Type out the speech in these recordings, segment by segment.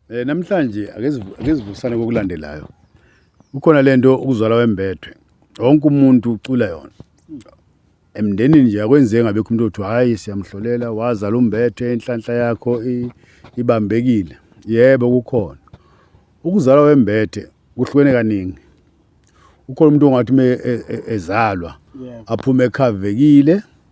Eh namhlanje akezivusane kokulandelayo. Kukhona lento ukuzwala wembethwe. Wonke umuntu ucula yona. Emndenini nje akwenzeki ngabekho umuntu othi hayi siyamhlolela wazala umbethe inhlanhla yakho ibambekile. Yebo kukhona. Ukuzalwa wembethe kuhlukene kaningi. Ukhona umuntu ongathi uma e, e, ezalwa aphume ekhavekile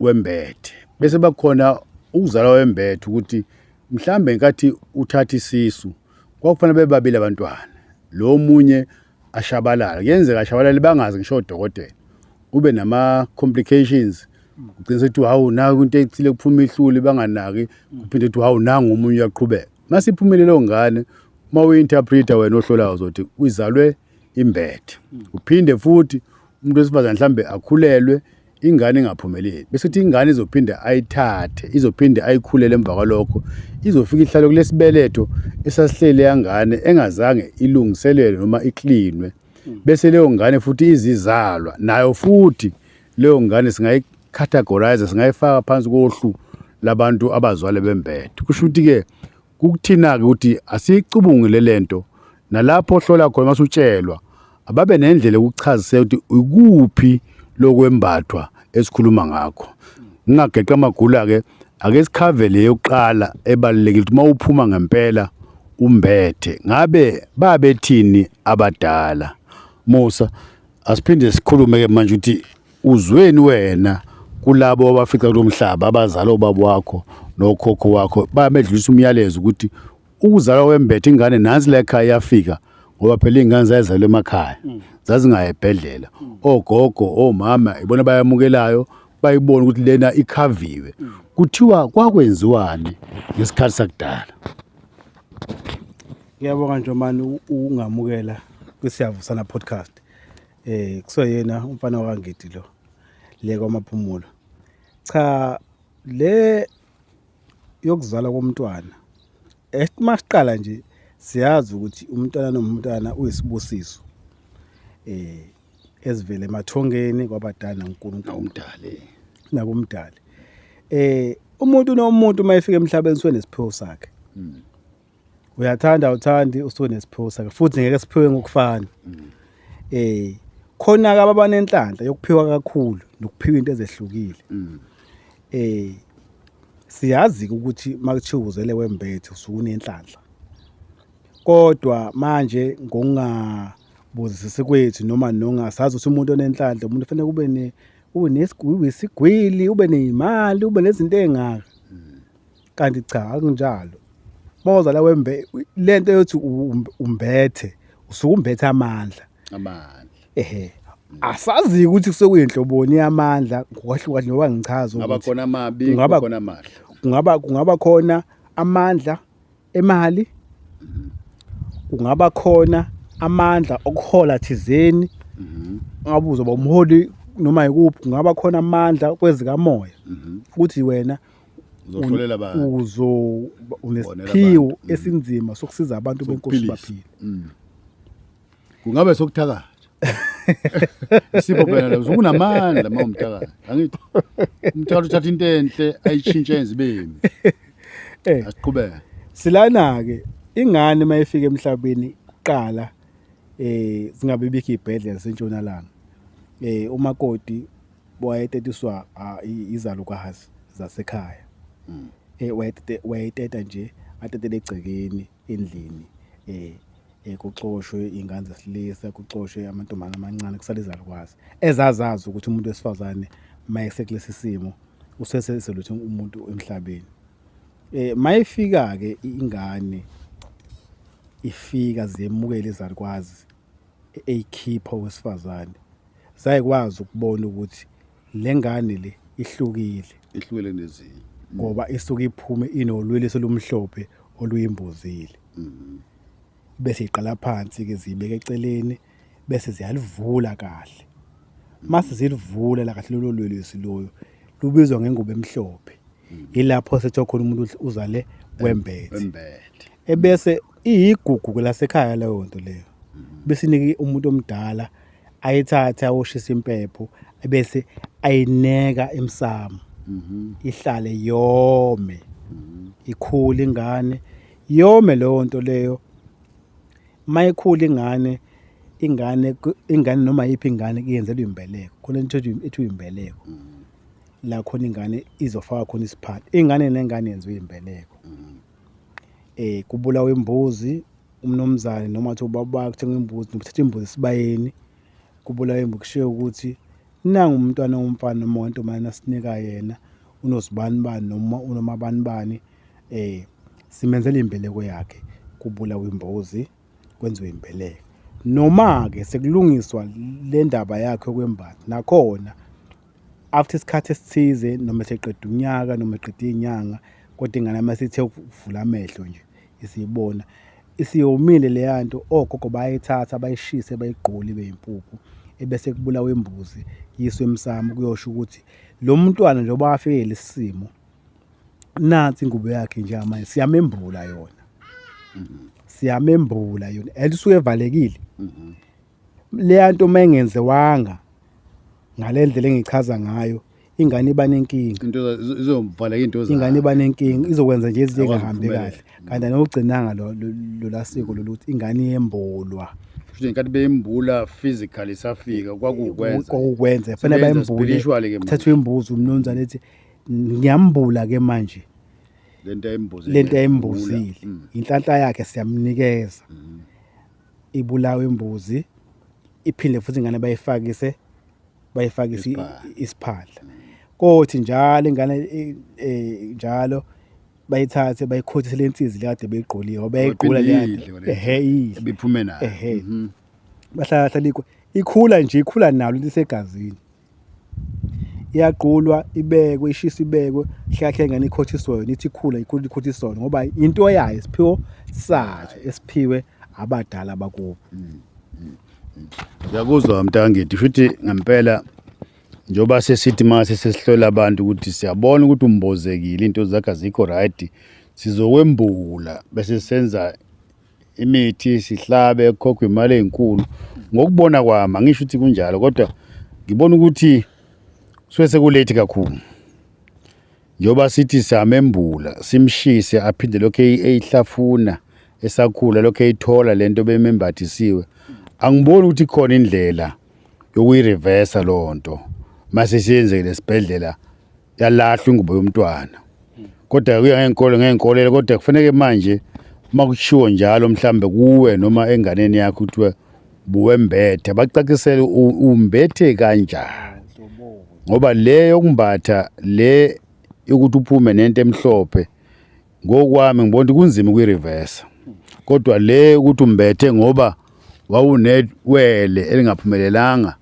wembethe bese bakhona ukuzalwa wembethe ukuthi mhlambe ngenkathi uthatha isisu kwakufanele bebabili abantwana lo munye ashabalala kuyenzeka ashabalale bangazi ngisho odokotela ube nama complications ugcina ukuthi hawu naku into ethile kuphuma ihluli banganaki kuphinde ukuthi hawu nangu omunye uyaqhubeka masiphumelele ngane uma uyinterpreter wena ohlolayo uzothi uyizalwe imbethe uphinde futhi umuntu wesifazane mhlambe akhulelwe ingane ingaphumeleli bese kuthi ingane izophinde ayithathe izophinde ayikhulele emva kwalokho izofika ihlale kulesibeletho esasihlele yangane engazange ilungiselelwe noma iklinwe bese leyo ngane futhi izizalwa nayo futhi leyo ngane singayicategorize singayifaka phansi kohlu labantu abazwale bembethe kusho ukuthi ke kukuthina ke ukuthi asiyicubungile lento Nalapho ohlola khona masutshelwa ababe nendlela yokuchaziseka ukuthi ikuphi lokwembathwa esikhuluma ngakho. Ngingageqa amagula ke ake sikhave le yokuqala ebalulekile ukuthi mawuphuma ngempela umbethe ngabe babethini abadala. Musa asiphinde sikhulume ke manje ukuthi uzweni wena kulabo abafica kulomhlaba abazali obaba wakho nokhokho wakho bamedlulisa umyalezo ukuthi ukuzalwa kwembethe ingane nansi la ekhaya yafika ngoba phela iy'ngane zayezalwa emakhaya mm. zazingayi ebhedlela mm. ogogo omama ibona bayamukelayo bayibona ukuthi lena ikhaviwe mm. kuthiwa kwakwenziwani ngesikhathi sakudala ngiyabonga nje mani ungamukela kwisiyavusana podcast eh kusoyena umfana wakangidi lo le kwamaphumulo cha le yokuzalwa komntwana uma siqala nje siyazi ukuthi umntwana nomntwana uyisibusiso eh ezivele emathongeni kwabadala uNkulunkulu umdali nakumdali eh umuntu nomuntu uma efika emhlabeni swenesiphiwo sakhe hmm. uyathanda uthandi usuke nesiphosa ke futhi ngeke siphiwe ngokufana eh khona ke abanenhlanhla yokuphiwa kakhulu nokuphiwa into ezehlukile eh siyazi ukuthi makuthiwa uzele wembethe usukunenhlanhla kodwa manje ngokungabuzisisi kwethu noma nongasazi ukuthi umuntu onenhlanhla umuntu fanele kube ne unesigwili ube nezimali ube nezinto ezingaka kanti cha akunjalo boza la wembe lento yothi umbethe usuke umbethe amandla amandla ehe asazi ukuthi kusekuyinhloboni yamandla ngokwahluka njengoba ngichaza ukuthi ngaba khona amabi ngaba khona amahle kungaba kungaba khona amandla emali kungaba khona amandla okuhola thizeni ngabuzo bomholi noma yikuphi kungaba khona amandla kwezikamoya ukuthi wena uzohlolela abantu uzo unesiphiwo mm. esinzima sokusiza abantu benkosi baphile mm. kungabe sokuthakatha isipho phela lezo kunamandla uma umthakatha angithi umthakatha uthatha into enhle ayishintshe yenze ibemi eh asiqhubeke silana ke ingane mayifika emhlabeni kuqala eh singabe bikho ibhedlela sentshonalanga eh umakoti wayetetiswa ah, i- izalukazi zasekhaya um wayetete- wayeteta nje atetele egcekeni endlini um um kucoshwe iy'ngane zesilisa kucoshwe amantombazane amancane kusale izalukwazi ezazazi ukuthi umuntu wesifazane uma esekulesi simo useseseluthe umuntu emhlabeni um ma ifika-ke ingane ifika zemukele izalukwazi eyikhipha owesifazane zayikwazi ukubona ukuthi le ngane le ihlukile ihlukile nezinye ngoba isuke iphume inolwele selumhlophe oluyimbozile mm-hmm. bese iqala phansi ke zibeke eceleni bese ziyalivula kahle mase zilivula la kahle lolo lwelwesi loyo lubizwa ngengubo emhlophe mm. yilapho sethiwa khona umuntu uzale wembethe ebese iyigugu lasekhaya leyo nto leyo besinike umuntu omdala ayithathe awoshisa impepho ebese ayineka emsamo ihlale yome ikhule ingane yome leyo nto leyo mayikhula ingane ingane ingane noma yiphi ingane iyenzelwa imbeleko khona into ethi imbeleko la khona ingane izofaka khona isiphathi ingane nengane yenziwa imbeleko eh kubulawa imbuzi umnomzane noma athi ubaba kuthenga imbuzi nokuthatha imbuzi esibayeni kubulawa imbuzi kushiye ukuthi nangu umntwana womfana noma wentombazane asinika yena unozibani bani noma unoma bani bani eh simenzela imbeleko yakhe kubulawa imbuzi kwenziwe imbeleko noma ke sekulungiswa le ndaba yakhe kwembathi nakhona after isikhathi esithize noma seqeda unyaka noma eqeda iy'nyanga kodwa ingane uma sithe ukuvula amehlo nje isiyibona isiyomile leya nto ogogo bayithatha bayishise bayigqule ibe yimpuphu ebese kubulawa imbuzi yiswe emsamo kuyosho ukuthi lo mntwana njengoba wafike lesimo nansi ingubo yakhe nje manje siyamembula yona mm-hmm. siyamembula yona and usuke evalekile mm-hmm. leya nto uma engenziwanga ngale ndlela engichaza ngayo ingane iba nenkinga into izo- izomvaleka into zayo. ingane iba nenkinga izokwenza nje izinto Akwazi engahambi ukuphumelela. kahle kanti anokugcinanga lo- lo- lola siko loluthi ingane yembulwa Kusho ngenkathi bembula physically safika kwakukwenza. kokwenza fanele Sebenza bayembule spiritually ke manje. thathwe imbuzi umnumzane ethi ngiyambula ke manje Lento ayimbuzile. lento ayimbuzile Mm. inhlanhla yakhe siyamnikeza ibulawe imbuzi iphinde futhi ingane bayifakise bayifakise isiphandla kothi njalo ingane e, e, njalo bayithathe bayikhothise lensizi lekade beyigqolile ngoba yayigqula lento ehe idle ebiphume nayo ehe mhm. bahlala hlalikho ikhula nje ikhula nalo lisegazini iyaqulwa ibekwe ishisa ibekwe hlahle ngane ikhothiswe yona ithi khula ikhula ikhothiswe ngoba into yayo isiphiwo sayo esiphiwe abadala bakubo Ngiyakuzwa mntangithi futhi ngempela njoba sesithi mase sesihlola abantu ukuthi siyabona ukuthi umbozekile into zakhe azikho right sizokwembula bese senza imithi sihlabe kukhokhwa imali ezinkulu ngokubona kwami angisho ukuthi kunjalo kodwa ngibona ukuthi suke sekulate kakhulu njengoba sithi samembula simshise aphinde lokhu eyihlafuna esakhula lokhu eyithola lento bemembathisiwe angiboni ukuthi khona indlela yokuyireversa lonto mase siyenzeke lesibhedlela yalahlwa ingubo yomntwana kodwa kuya ngeenkolo ngeenkolelo kodwa kufaneke manje uma kushiwo njalo mhlambe kuwe noma enganeni yakho kuthiwa buwembethe bacacisele umbethe kanjani ngoba le yokumbatha le yokuthi uphume nento emhlophe Ngokwami ngibona ukuthi kunzima ukuyireverse. Kodwa le ukuthi umbethe ngoba wawunewele elingaphumelelanga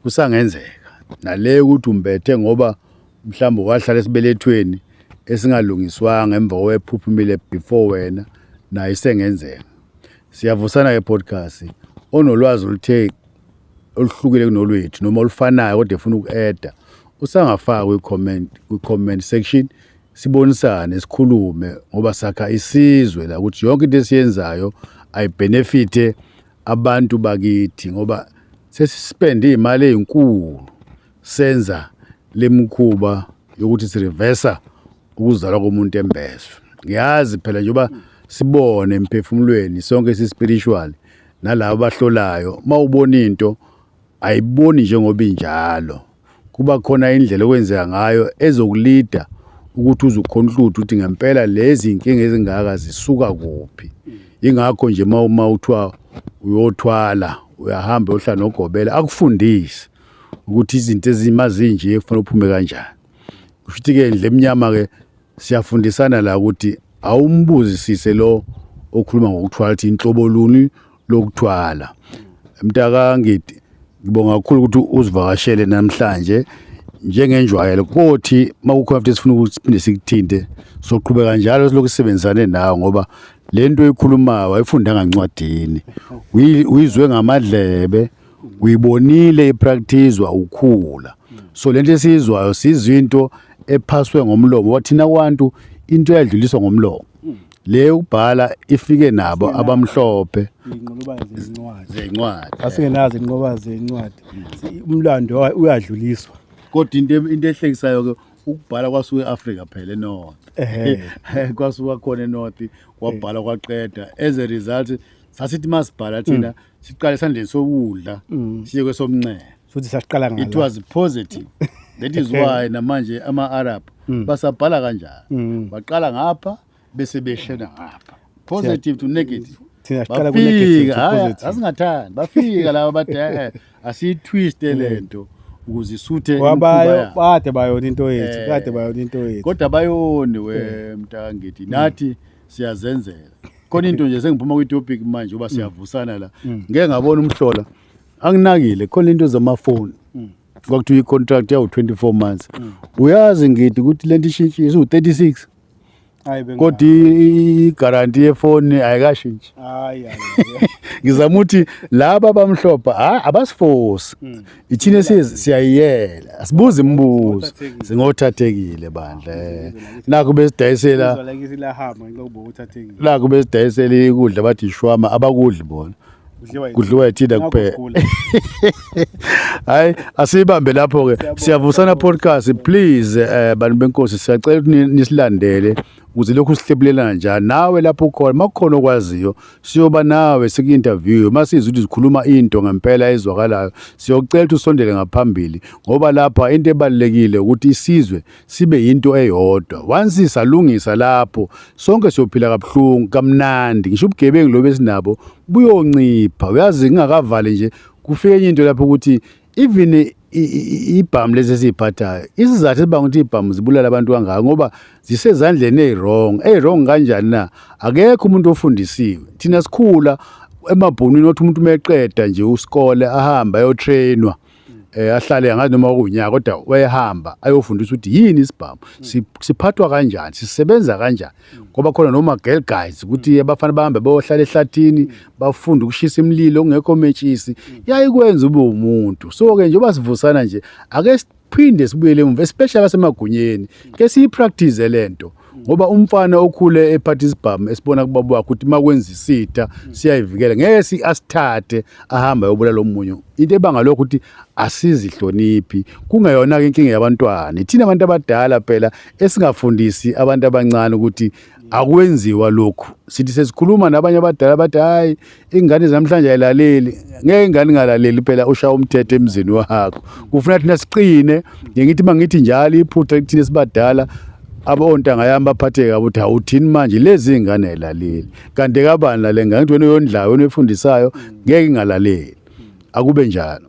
kusangenzeka. Nale ukuthi umbethe ngoba mhlawumbe wahlala esibelethweni esingalungiswanga emva kwephuphumile before wena nayo isengenzeka. Siyavusana ke podcast onolwazi oluthe oluhlukile kunolwethu noma olufanayo kodwa efuna uku-eda usangafaka kwi-comment kwi-comment section sibonisane sikhulume ngoba sakha isizwe la ukuthi yonke into esiyenzayo ayibenefite abantu bakithi ngoba sesispende imali ezinkulu senza lemkhuba yokuthi sireversa ukuzalwa komuntu embeswe ngiyazi phela njengoba sibone emphefumulweni sonke sispiritual nalabo bahlolayo mawubona into ayiboni njengoba injalo kuba khona indlela okwenzeka ngayo ezokulida ukuthi uzukhona uhluthu ukuthi ngempela lezi nkinga ezingaka zisuka kuphi ingakho nje uma uma uthiwa uyothwala uyahamba uyohlala nogobela akufundise ukuthi izinto ezima zinje kufanele uphume kanjani kusho ukuthi-ke ndle emnyama-ke siyafundisana la ukuthi awumbuzisise lo okhuluma ngokuthwala ukuthi inhlobo luni lokuthwala mntaka ngidi ngibonga kakhulu ukuthi uzivakashele namhlanje njengenjwayelo kothi makukhona futhi sifuna ukuthi siphinde sikuthinte soqhubeka njalo silokhu sisebenzisane nawe ngoba le nto oyikhulumayo wayifundanga ncwadini uyizwe ngamadlebe uyibonile ipraktizwa ukhula so lento esiyizwayo sizinto ephaswe ngomlomo wathina kwantu into eyadluliswa ngomlomo le yokubhala ifike nabo abamhlophe inqolobane zezincwadi zencwadi asingenazo inqoba zezincwadi umlando uyadluliswa kodwa into into ehlekisayo ke ukubhala kwasuke eAfrika phela eNorth kwasuka khona eNorth kwabhala kwaqeda as a result sasithi masibhala thina mm. siqale sandleni sokudla mm. siye kwesomnxele futhi sasiqala ngala it was positive that is why namanje ama Arab mm. basabhala kanjalo mm. baqala ngapha bese beshena ngapha positive to negative thina siqala ku negative to positive asingathandi bafika laba badela eh, asiyitwiste mm. lento ukuze isuthe wabayo bade bayona into yethu eh. kade bayona into yethu kodwa bayoni we eh. mntangithi nathi siyazenzela khona into nje sengiphuma kwi topic manje uba siyavusana la ngeke ngabona umhlola anginakile khona into zamafoni mm. kwakuthiwa i-contract yawu 24 months mm. uyazi ngidi ukuthi lento ishintshi isiwu-36 kodwa igaranti yefoni ayikashintshi ngizama ukuthi laba abamhlophe hayi abasifosi hmm. ithina siyayiyela asibuzi imibuzo singothathekile bandla eh. nakho besidayisela nakho besidayisela ikudla bathi ishwama abakudli bona kudliwa yithina kuphela hayi asiyibambe lapho-ke siyavusana podcast please eh, bantu benkosi siyacela ukuthi nisilandele ukuze lokhu sihlebulela njani nawe lapho ukhona uma kukhona okwaziyo siyoba nawe siku-interviewe uma sizwa ukuthi zikhuluma into ngempela ezwakalayo siyocela ukuthi usondele ngaphambili ngoba lapha into ebalulekile ukuthi isizwe sibe yinto eyodwa once salungisa lapho sonke siyophila kabuhlungu kamnandi ngisho ubugebengu lobe sinabo buyoncipha uyazi ngingakavali nje kufike enye into lapho ukuthi even ibhamu lezi esiyiphathayo isizathu esibanga ukuthi ibhamu zibulala abantu kangaka ngoba zisezandleni eyi-wrong eyi-wrong kanjani na akekho umuntu ofundisiwe thina sikhula emabhunwini othi umuntu uma eqeda nje usikole ahambe ayotrainwa eh ahlale angazi noma kunyaka kodwa wayehamba ayofundisa ukuthi yini isibhamu si- siphathwa kanjani sisebenza kanjani ngoba khona noma girl guys ukuthi abafana bahambe bayohlala ehlathini bafunde ukushisa imlilo kungekho metshisi yayikwenza ube umuntu so ke njengoba sivusana nje ake siphinde sibuyele emuva especially basemagunyeni ke siyipractice lento ngoba umfana okhule ephatha isibhamu esibona kubaba wakhe ukuthi makwenza isitha siyayivikela ngeke si asithathe ahamba yobula lomunye into ebanga lokho ukuthi asizihloniphi kungeyona ke inkinga yabantwana ithina abantu abadala phela esingafundisi abantu abancane ukuthi akwenziwa lokhu sithi sesikhuluma nabanye abadala bathi hayi ingane zamhlanje ayilaleli ngeke ingane ingalaleli phela ushaya umthetho emzini wakho kufuna thina siqine ngithi mangithi njalo iphutha kuthina sibadala abontanga yami baphatheke kabi ukuthi awuthini manje lezi ingane ayilaleli kanti kabani lale ngane ukuthi wena uyondlayo wena uyifundisayo ngeke ingalaleli akube njalo